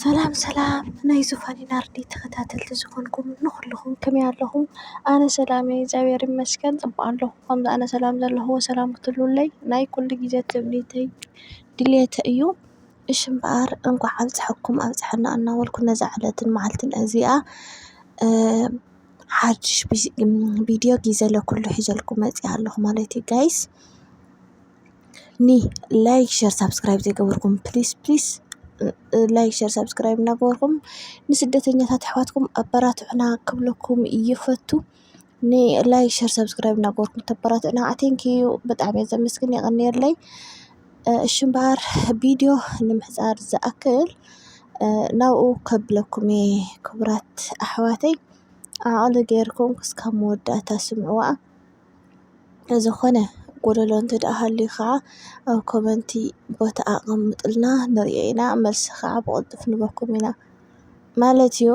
ሰላም ሰላም ናይ ዙፋኒ ናርዲ ተኸታተልቲ ዝኾንኩም ንኹልኹም ከመይ ኣለኹም? ኣነ ሰላም እየ እግዚኣብሔር ይመስገን ፅቡቕ ኣለኹ። ከምዚ ኣነ ሰላም ዘለኹ ሰላም ክትህልዉለይ ናይ ኩሉ ግዜ ትምኒተይ ድልየተይ እዩ። እሺ እምበኣር እንኳዕ ኣብፀሐኩም ኣብፀሐና እናበልኩ ነዛ ዕለትን መዓልትን እዚኣ ሓድሽ ቪድዮ ጊዘ ለኩሉ ሒዘልኩም መፂኣ ኣለኹ ማለት እዩ ጋይስ። ኒ ላይክ ሸር ሳብስክራይብ ዘይገበርኩም ፕሊስ ፕሊስ ላይክ ሸር ሳብስክራይብ እናገበርኩም ንስደተኛታት ኣሕዋትኩም ኣበራትዑና ክብለኩም ይፈቱ። ኒ ላይክ ሸር ሳብስክራይብ እናገበርኩም ተበራትዑና ኣቴንክ ዩ ብጣዕሚ እየ ዘመስግን የቐንየለይ። እሺ እምበኣር ቪድዮ ንምሕፃር ዝኣክል ናብኡ ከብለኩም እየ ክቡራት ኣሕዋተይ ኣቐለ ገይርኩም ክስካብ መወዳእታ ስምዕዋ። ዝኾነ ጎደሎ እንተድኣ ሃልዩ ኸዓ ኣብ ኮመንቲ ቦታ ኣቐምጡልና ንሪኦ ኢና መልሲ ኸዓ ብቕልጡፍ ንህበኩም ኢና ማለት እዩ።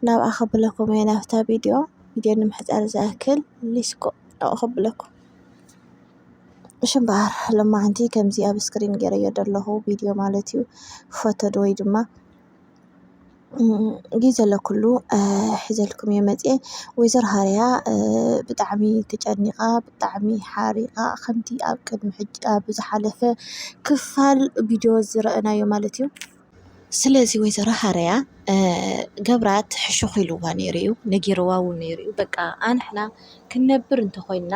ናብኣ ከብለኩም እየ ናብታ ቪድዮ ቪድዮ ንምሕጻር ዝኣክል ሊስኮ ናብኡ ከብለኩም። እሺ እምበኣር ሎማዓንቲ ከምዚ ኣብ ስክሪን ጌረዮ ዘለኹ ቪድዮ ማለት እዩ ፎቶ ዶ ወይ ድማ ጊዘ ለኩሉ ኂዘልኩምዮ መጽአ ወይዘር ሃርያ ብጣዕሚ ተጨኒቓ ብጣዕሚ ሓሪቓ ኸምቲ ኣብ ቅድሚ ሕጅ ኣብዝኃለፈ ክፋል ቢድዮ ዝረአናዮ ማለት እዩ ስለዙይ ወይዘሮ ሃርያ ገብራት ሕሹኺ ኢልዋ ነይሩ እዩ ነጊርዋዊ ነይሩ እዩ በቃ ኣንሕና ኽንነብር እንተ ኾይንና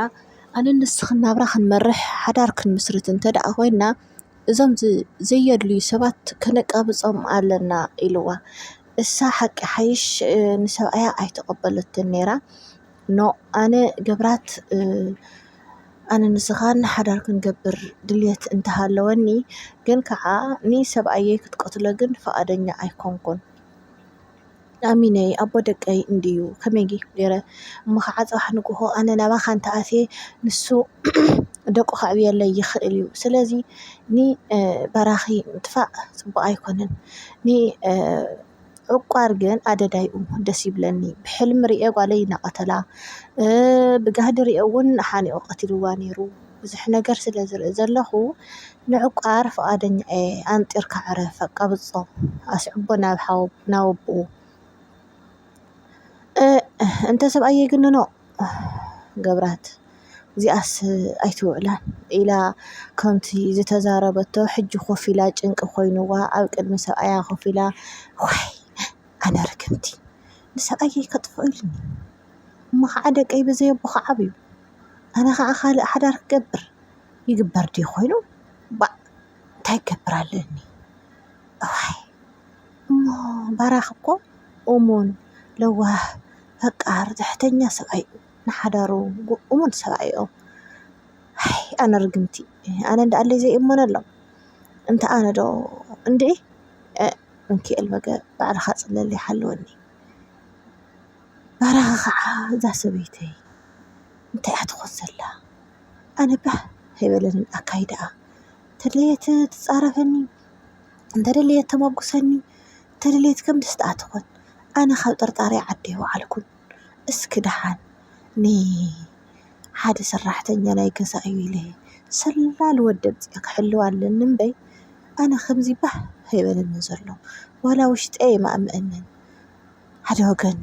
ኣነንስኽ ናብራ ኽንመርሕ ሓዳር ክንምስርት እንተ ደኣ ኾይንና። እዞም ዘየድልዩ ሰባት ከነቃብጾም ኣለና ኢልዋ። እሳ ሓቂ ሓይሽ ንሰብኣያ ኣይተቀበለቶን ነይራ no ኣነ ገብራት ኣነ ንስኻን ሓዳር ክንገብር ድልየት እንተሃለወኒ ግን ካዓ ንሰብኣየይ ክትቀትሎ ግን ፍቃደኛ ኣይኮንኩን። ኣሚነይ ኣቦ ደቀይ እንድዩ ከመይ ጌረ እሞ ከዓ ፅባሕ ንጉሆ ኣነ ናባካ እንተኣትየ ንሱ ደቁ ከዕብየለይ ይኽእል እዩ ስለዚ ንበራኺ ምጥፋእ ፅቡቅ ኣይኮነን ንዕቋር ግን ኣደዳይ እዩ ደስ ይብለኒ ብሕልሚ ሪኤ ጓለይ እናቀተላ ብጋህዲ ሪኤ እውን ሓኒቁ ቀቲልዋ ነይሩ። ብዙሕ ነገር ስለ ዝርኢ ዘለኹ ንዕቋር ፍቓደኛ እየ ኣንጢርካ ዕረፍ ኣቃብጾ ኣስዕቦ ናብ ሓው ናብ ኣቦኡ እንተ ሰብኣይ የግንኖ ገብራት እዚኣስ ኣይትውዕላን ኢላ ከምቲ ዝተዛረበቶ ሕጂ ኮፍ ኢላ ጭንቂ ኮይኑዋ ኣብ ቅድሚ ሰብኣያ ኮፍ ኢላ ዋይ ኣነ ርግምቲ ንሰብኣየይ ከጥፍኦ ኢሉኒ እሞ ከዓ ደቀይ ብዘይ ኣቦ ክዓብዩ ኣነ ኸኣ ካልእ ሓዳር ክገብር ይግበር ድዩ ኮይኑ ባእ እንታይ ክገብር ኣለኒ እዋይ እሞ ባራኽ እኮ እሙን ለዋህ ፈቃር ትሕተኛ ሰብኣይ እዩ ንሓዳሩ እሙን ሰብኣይ እዩ ኣይ ኣነ ርግምቲ ኣነ እንዶ ኣለይ ዘይእመነሎም እንተ ኣነ ዶ እንድዒ እንኪ እል በገ ባዕልኻ ጽለለይ ሓልወኒ። ባራኺ ከዓ እዛ ሰበይተይ እንታይ እያ ትኾን ዘላ ኣነ ባህ ኣይበለንን ኣካይዳኣ እንተድለየት ትፃረፈኒ እንተደለየት ተሞግሰኒ እንተደለየት ከም ደስትኣ ትኾን ኣነ ካብ ጥርጣረ ዓዲ ኣይወዓልኩን እስኪ ደሓን ንሓደ ሰራሕተኛ ናይ ገዛ እዩ ኢለ ሰላል ወዲ ኣምፂኣ ክሕልዋ ኣለኒ እምበይ ኣነ ከምዚ ባህ ኣይበለንን ዘሎ ዋላ ውሽጠይ ኣይማእመአንን ሓደ ወገን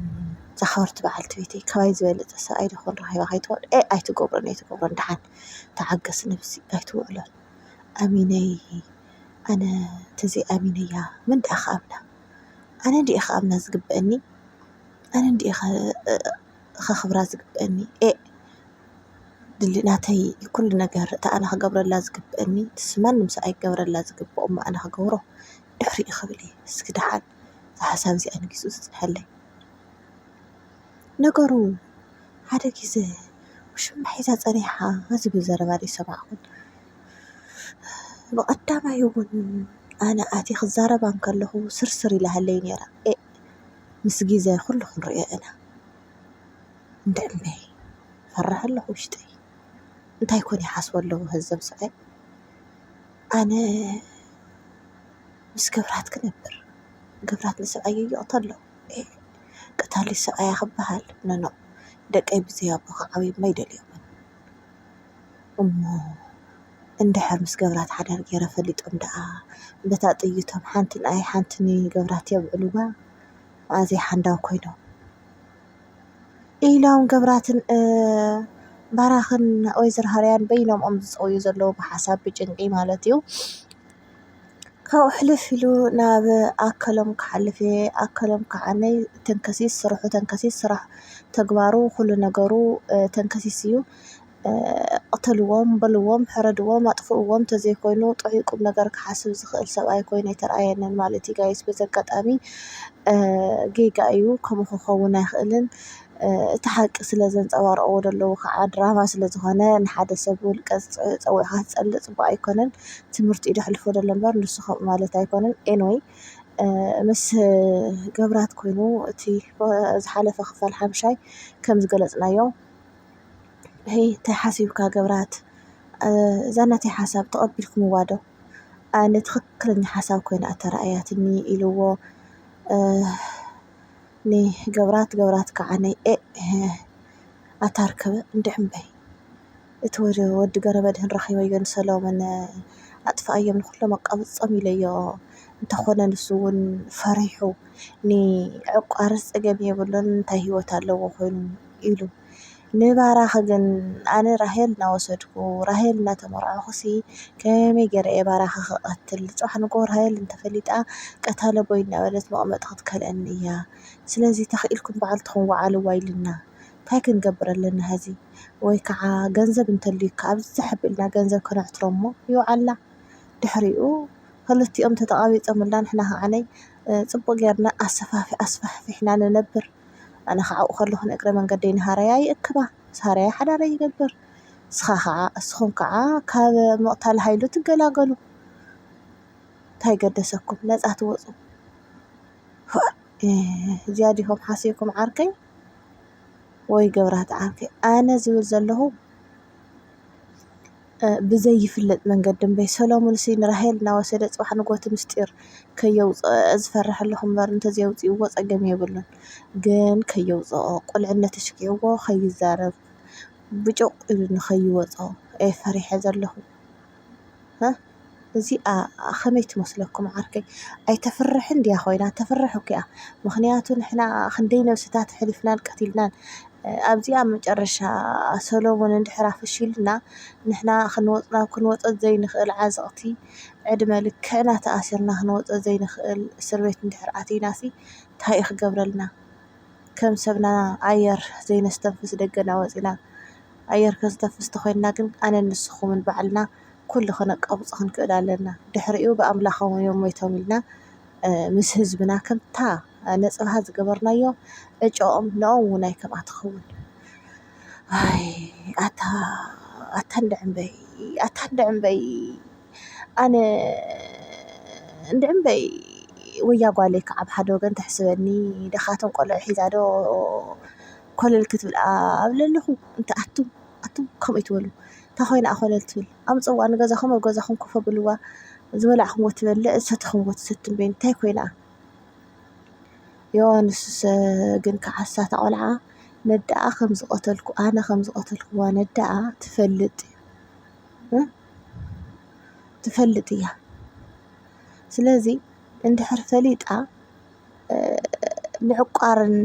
ዝኸበርት በዓልቲ ቤተይ ካባይ ዝበለጸ ሰብኣይ ዶ ኽን ረኺባ ከይትኮን ኤእ ኣይትገብሮን ኣይትገብሮን ደሓን ተዓገስ ነብሲ ኣይትውዕሎን ኣሚነይ ኣነ ተዘይ ኣሚነያ መን ደኣ ክኣምና ኣነ ድየ ክኣምና ዝግበኣኒ ኣነ ድየ ከኽብራ ዝግበኣኒ ኤእ ድል ናተይ ኩሉ ነገር እታ ኣነ ክገብረላ ዝግበኣኒ ንሱ ማንም ሰብ ኣይክገብረላ ዝግበኦ እሞ ኣነ ክገብሮ ድሕሪኡ ክብል እየ እስኪ ደሓን። እዛ ሓሳብ እዚኣ ንግዚኡ ተፅንሐለይ። ነገሩ ሓደ ግዘ ውሽማ ሒዛ ፀኒሓ ዝብል ዘረባ ዶ ኣይሰማዕኹን? ብቐዳማይ እውን ኣነ ኣትየ ክዛረባ እንከለኹ ስርስር ኢላ ሃለይ ነይራ። ኤእ ምስ ግዘ ኩሉ ክንሪኦ ኢና። እንድዒ እምበይ ፈርሕ ኣለኹ ውሽጠይ። እንታይ ኮን ይሓስቡ ኣለዉ ሀዚ እዞም ሰብኣይ? ኣነ ምስ ግብራት ክነብር ግብራት ንሰብኣየይ ይቕተሎ ቀታሊ ሰብኣያ ክበሃል ኖኖ ደቀይ ብዘይ ኣቦ ክዓብዩ'ሞ ኣይደልዮምን እሞ እንድሕር ምስ ግብራት ሓዳር ጌረ ፈሊጦም ደኣ በታ ጥይቶም ሓንቲ ንኣይ ሓንቲ ንግብራት የብዕልዋ መኣዝ'የ ሓንዳብ ኮይኖም ኢሎም ግብራትን ባራኽን ወይዘሮ ሃርያን በይኖም'ዮም ዝፀውዩ ዘለዉ ብሓሳብ ብጭንቂ ማለት'ዩ። ካብኡ ሕልፍ ኢሉ ናብ ኣከሎም ክሓልፍ እየ። ኣከሎም ክዓነይ ተንከሲስ ስርሑ ተንከሲስ ስራሕ ተግባሩ ኹሉ ነገሩ ተንከሲስ እዩ። ቕተልዎም በልዎም ሕረድዎም ኣጥፍእዎም ተዘይኮይኑ ጥዑይ ቁም ነገር ክሓስብ ዝኽእል ሰብ ኣይኮይኑ ኣይተርኣየንን ማለት እዩ። ጋይስ በዚ ኣጋጣሚ ጌጋ እዩ ከምኡ ክኸውን ኣይኽእልን። እቲ ሓቂ ስለ ዘንጸባርቕዎ ደለዉ ኸዓ ድራማ ስለ ዝኾነ ንሓደ ሰብ ውልቀ ጸዊዕካ ክትጸልእ ጽቡቕ ኣይኮነን ትምህርቲ እዩ ደሕልፎ ደሎ እምበር ንሱ ከምኡ ማለት ኣይኮነን ኤንወይ ምስ ገብራት ኮይኑ እቲ ዝሓለፈ ክፋል ሓምሻይ ከም ዝገለጽናዮ ሄይ ታይ ሓሲብካ ገብራት እዛ ናተይ ሓሳብ ተቐቢልክምዋ ዶ ኣነ ትኽክለኛ ሓሳብ ኮይና እያ ተራእያትኒ ኢልዎ። ን ገብራት ገብራት ክዓ ን ኤእ ኣታ ርክብ እንድዒ እምበይ እቲ ወዲ ገረመድህን ረኪበዮ ን ሰለሙን ኣጥፈኣዮም ንኩሎም ኣቃብጾም ኢለዮ እንተ ኮነ ንሱ ውን ፈሪሑ ን ዕቋርስ ጸገም የብሉን እንታይ ሂወት ኣለዎ ኮይኑ ኢሉ ንባራኺ ግን ኣነ ራሄል እናወሰድኩ ራሄል እናተመርዓኹሲ ከመይ ገይረ እየ ባራኺ ክቐትል ፅባሕ ንግሆ ራሄል እንተፈሊጣ ቀታለ ቦይ እናበለት መቐመጢ ክትከልኣኒ እያ ስለዚ ተኽኢልኩም ባዕልትኹም ወዓልዋ ኢሉና ታይ ክንገብር ኣለና ሀዚ ወይ ከዓ ገንዘብ እንተልዩካ ኣብዝሕ ኣቢልና ገንዘብ ከነሕትሮ እሞ ይውዓላ ድሕሪኡ ኽልቲኦም ተተቓቢፆምልና ንሕና ከዓነይ ፅቡቕ ገይርና ኣሰፋፊ ኣስፋሕፊሕና ንነብር። ኣነ ኸዓኡ ከለኹ ንእግረ መንገደይ ንሃረያ ይእክባ፣ ምስ ሃረያ ሓዳረይ ይገብር፣ እስኻ ኸዓ እስኹም ከዓ ካብ ምቕታል ሃይሉ ትገላገሉ፣ ታይ ገደሰኩም ነፃ ትወፁ፣ ፎእ እዚኣ ዲኹም ሓሲብኩም ዓርከይ ወይ ገብራቲ ዓርከይ፣ ኣነ ዝብል ዘለኹ ብዘይፍለጥ መንገዲ እምበይ ሰሎሙንሲ ንራሄል እናወሰደ ጽባሕ ንግሆ እቲ ምስጢር ከየውጽኦ ዝፈርሕ ኣለኹ እምበር እንተዘየውጺእዎ ጸገም የብሉን ግን ከየውጽኦ ቁልዕነት ኣሽኪዕዎ ከይዛረብ ብጩቕ ኢሉ ንኸይወጾ እየ ፈሪሐ ዘለኹ። እዚኣ ከመይ ትመስለኩም ዓርከይ ኣይተፍርሕን ድያ ኮይና ተፍርሕ እኮ እያ ምክንያቱ ንሕና ክንደይ ነብስታት ኣሕሊፍናን ቀቲልናን ኣብዚ ኣብ መጨረሻ ሰሎሙን እንድሕር ኣፈሺሉና ንሕና ክንወፅና ክንወፀ ዘይንክእል ዓዘቅቲ ዕድመ ልክዕና ተኣሲርና ክንወፀ ዘይንክእል እስር ቤት እንድሕር ኣቲናሲ ታይ እዩ ክገብረልና ከም ሰብና ኣየር ዘይነስተንፍስ ደገና ወፂና ኣየር ክንስተንፍስ ተኮይንና ግን ኣነን ንስኩምን ባዕልና ኩሉ ክነቃውጽ ክንክእል ኣለና ድሕሪኡ ብኣምላኾም እዮም ሞይቶም ኢልና ምስ ህዝብና ከምታ ነጽብሃ ዝገበርናዮ ዕጭኦም ንኦም እውን ኣይከምኣ ትኸውን ኣይ ኣታ ኣታ እንድዕምበይ ኣታ እንድዕምበይ ኣነ እንድዕምበይ ወያ ጓለይ ክዓ ብ ሓደ ወገን ተሕስበኒ ድኻትም ቆልዑ ሒዛ ዶ ኮለል ክትብል ኣብ ለለኹ እንተ ኣቱም ኣቱም ከምኡ ኣይትበሉ እታ ኮይና እያ ኮለል ትብል ኣምፅእዋ ንገዛኹም ኣብ ገዛኹም ኮፍ ኣብልዋ ዝበላዕኹምዎ ትበልዕ ዝሰተኹምዎ ትሰቲ እምበይ እንታይ ኮይና እያ ዮሃንስስ ግን ከዓሳ እታ ቆልዓ ነዳኣ ከም ዝቐተልኩ ኣነ ከም ዝቐተልኩዋ ነዳኣ ትፈልጥ ትፈልጥ እያ ስለዚ እንድሕር ፈሊጣ ምዕቋርን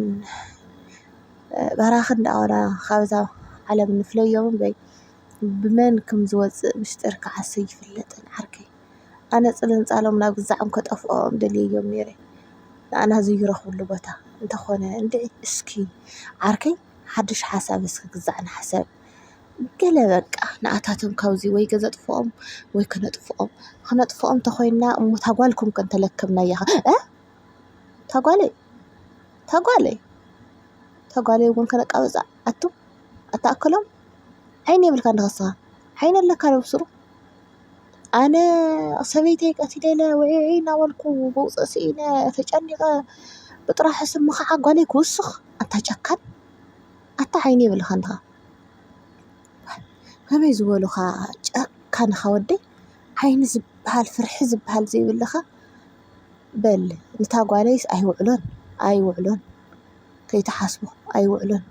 በራኽን ዳኣና ካብዛ ዓለም ንፍለዮ እምበይ ብመን ከም ዝወጽእ ምስጢር ክዓስ ኣይፍለጥን ዓርከይ። ኣነ ጽልንጻሎም ናብ ገዛዖም ከጠፍኦም ደልየዮም ኔረ ንኣና ዘይረኽብሉ ቦታ እንተኾነ እንድዒ እስኪ ዓርከይ ሓድሽ ሓሳብ እስኪ ግዛዕ ንሕሰብ። ገለ በቃ ንኣታቶም ካብዚ ወይ ገዘጥፍኦም ወይ ክነጥፍኦም ክነጥፍኦም ተኾይንና እሞ ታጓልኩም ከ እንተለከብናያ ኸ ታጓለይ ታጓለይ ታጓለይ እውን ከነቃብጻ ኣቱ ኣታኣከሎም ዓይኒ የብልካ ዶ ንስኻ ዓይኒ ኣለካ ዶ ኣብሱሩ ኣነ ሰበይተይ ቀቲለ ኢለ ውዒዒ እናበልኩ መውጽእ ስኢነ ተጨኒቐ ብጥራሑ ስምኻ ዓጓለይ ክውስኽ ኣታ ጨካን። ኣታ ዓይኒ የብልኻን ድኻ ከመይ ዝበሉኻ ጨካን ኢኻ ወደይ ዓይኒ ዝብሃል ፍርሒ ዝብሃል ዘይብልኻ በል ንታ ጓለይስ ኣይውዕሎን ኣይውዕሎን ከይትሓስቦ ኣይውዕሎን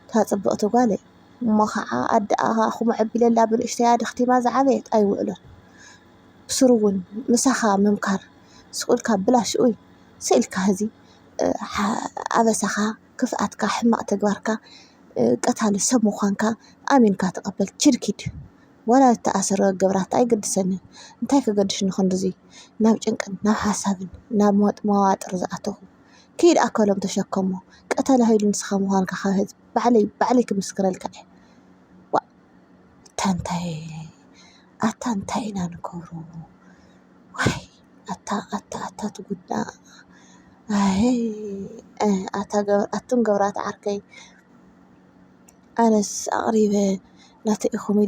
እታ ፅብቕቲ ጓለይ እሞ ኻዓ ኣደኣ ኹምዕ ኣቢለላ ብንእሽተያ ደኽቲማ ዝዓበየት ኣይውዕሎን ብስሩ እውን ምሳኻ ምምካር ስቕ ኢልካ ብላሽውይ ስቅ ኢልካ ሀዚ ኣበሳኻ ክፍኣትካ ሕማቅ ተግባርካ ቀታሊ ሰብ ምኳንካ ኣሚንካ ተቀበል ችድ ኪድ ዋላ ዝተኣሰረ ገብራት ኣይገድሰንን እንታይ ከገድሽኒ ክንድዚ ናብ ጭንቅን ናብ ሓሳብን ናብ ሞት መዋጥር ዝኣተኹ ኪድ ኣከሎም ተሸከሞ ቀታሊ ሃይሉ ንስኻ ምኳንካ ካብ ህዝቢ ባዕለይ ባዕለይ ክምስክረልካ እየ ዋእ ኣታ እንታይ ኣታ እንታይ ኢና ንገብሮ ዋይ ኣታ ኣታ ኣታ ትጉዳ ኣህይ ኣታ ኣቱም ገብራት ዓርከይ ኣነስ ኣቅሪበ ናተይ ኢኩም ኢለ።